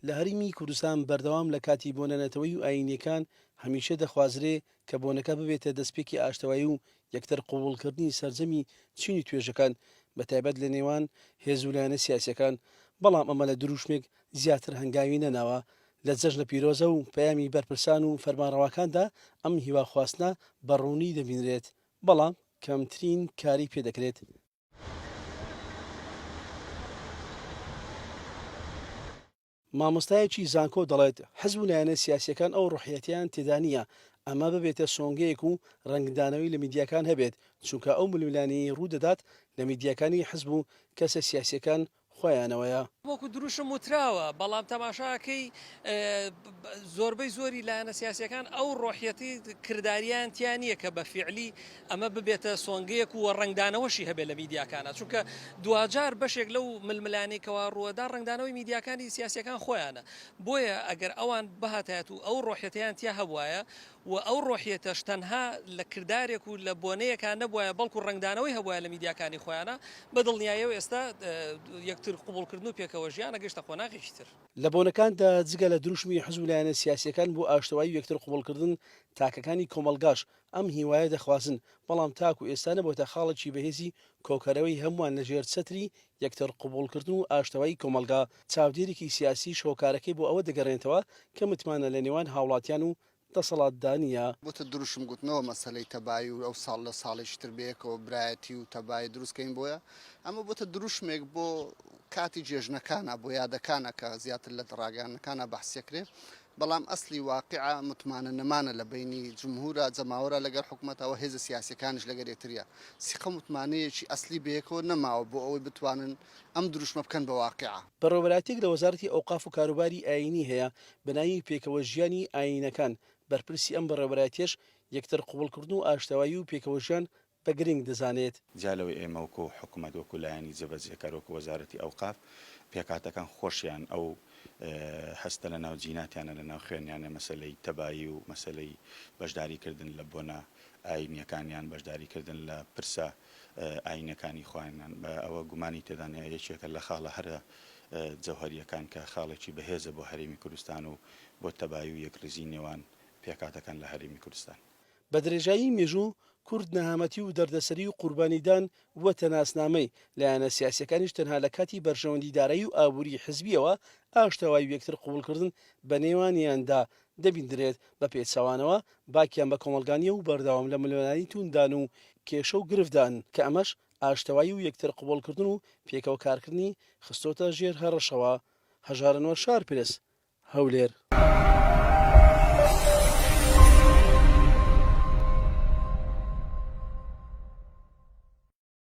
لە هەریمی کوردستان بەردەوام لە کاتی بۆنە نەتەوەیی و ئایینیەکان هەمیشە دەخوازرێ کە بۆنەکە ببێتە دەستپێکی ئاشتەوایی و یەکتر قبوڵ کردنی سەرجەمی چین و توێژەکان بە تایبەت لە نێوان هێز و لایەنە سیاسیەکان بەڵام ئەمە لە دروشمێک زیاتر هەنگاوی نەناوە لە جەژنە پیرۆزە و پەیامی بەرپرسان و فەرمانڕەواکاندا ئەم هیوا خواستنە بە ڕوونی دەبینرێت بەڵام کەمترین کاری پێ دەکرێت. مامۆستایەکی زانکۆ دەڵێت، حزب و لایەنە سیاسییەکان ئەو ڕۆحیەتەیان تێدا نییە ئەمە ببێتە سۆنگەیەک و ڕەنگدانەوەی لە میدیاکان هەبێت، چونکە ئەو ململانێیەی ڕوودەدات لە میدیاکانی حزب و کەسە سیاسییەکان خۆیانەوەیە. وەکو دروشم وتراوە، بەڵام تەماشاکەی زۆربەی زۆری لایەنە سیاسییەکان ئەو ڕۆحیەتی کردارییان تیا نییە کە بە فیعلی ئەمە ببێتە سۆنگەیەک و ڕەنگدانەوەشی هەبێت لە میدیاکانا چونکە دواجار بەشێک لەو ململانێی کەوا ڕووەدا ڕەنگدانەوەی میدیاکانی سیاسییەکان خۆیانە بۆیە ئەگەر ئەوان بهاتایەت و ئەو ڕۆحیەتەیان تیا هەبوایە و ئەو ڕۆحیەتەش تەنها لە کردارێک و لە بۆنەیەکا نەبوایە بەڵکو ڕەنگدانەوەی هەبوایە لە میدیاکانی خۆیانا، بە دڵنیایەوە ئێستا یەکتر قبوڵکردن و پێکەوە ژیانە گەیشتە قۆناغێکی تر. لە بۆنەکاندا جگە لە دروشمی حزب و لایەنە سیاسییەکان بۆ ئاشتەوایی و یەکتر قبوڵکردن، تاکەکانی کۆمەڵگاش ئەم هیوایە دەخوازن، بەڵام تاکو ئێستا نەبۆتە خاڵێکی بەهێزی کۆکەرەوەی هەمووان لە ژێر چەتری یەکتر قبوڵکردن و ئاشتەوایی کۆمەڵگا، چاودێرێکی سیاسیش هۆکارەکەی بۆ ئەوە دەگەرێنێتەوە کە متمانە لە نێوان هاوڵاتیان و دەسەڵات دا نیە. بۆتە دروشم گوتنەوە مەسەلەی تەبایی و ئەوساڵ لە ساڵێکی تر بەیەکەوە برایەتی و تەبایی دروست کەین بۆیە ئەمە بۆتە دروشمێک بۆ کاتی جێژنەکانا بۆ یادەکانا کە زیاتر لە ڕاگەیاندنەکانا بەحسی ئەکرێ بەڵام ئەسڵی واقیعە متمانە نەمانە لە بەینی جمهورا جەماوەرا لەگەڵ حکومەتا و هێزە سیاسیەکانیش لەگەل یەکتریا سیقە متمانەیەکی ئەسڵی بەیەکەوە نەماوە بۆ ئەوەی بتوانن ئەم دروشمە بکەن بە واقیع. بەڕێوەبەرایەتیەک لە وەزارەتی ئەوقاف و کاروباری ئایینی هەیە بناغەی پێکەوە ژیانی ئایینەکان، بەرپرسی ئەم بەڕێوەبەرایەتیەش یەکتر قبوڵکردن و ئاشتەوایی و پێکەوە ژیان بە گرنگ دەزانێت. جیا لەوەی ئێمە وەکو حکومەت، وەکو لایەنی جێبەجێکەر، وەکو وەزارەتی ئەوقاف، پێکهاتەکان خۆشیان ئەو هەستە لەناو جیناتیانە، لەناو خوێنیانە، مەسەلەی تەبایی و مەسەلەی بەشداریکردن لە بۆنە ئایینیەکان، یان بەشداریکردن لە پرسە ئایینەکانی خۆیانن، بە ئەوە گومانی تێدا نییە یەکێکە لە خاڵە هەرە جەوهەرییەکان کە خاڵێکی بەهێزە بۆ هەرێمی کوردستان و بۆ تەبایی و یەکڕیزیی نێوان پێکهاتەکان لە هەرێمی کوردستان. بە درێژایی مێژوو کورد نەهامەتی و دەردەسەری و قوربانیدان بووەتە ناسنامەی، لایەنە سیاسییەکانیش تەنها لە کاتی بەرژەوەندی دارایی و ئابووریی حزبییەوە ئاشتەوایی و یەکتر قبوڵکردن بەنێوانیاندا دەبیندرێت بە پێچەوانەوە باکیان بە کۆمەڵگا نیە و بەردەوام لە ململانێی تونددان و کێشە و گرفتدان کە ئەمەش ئاشتەوایی و یەکتر قبوڵکردن و پێکەوە کارکردنی خستۆتە ژێر هەڕەشەوە هەژار ئەنوەر شار پرس، هەولێر.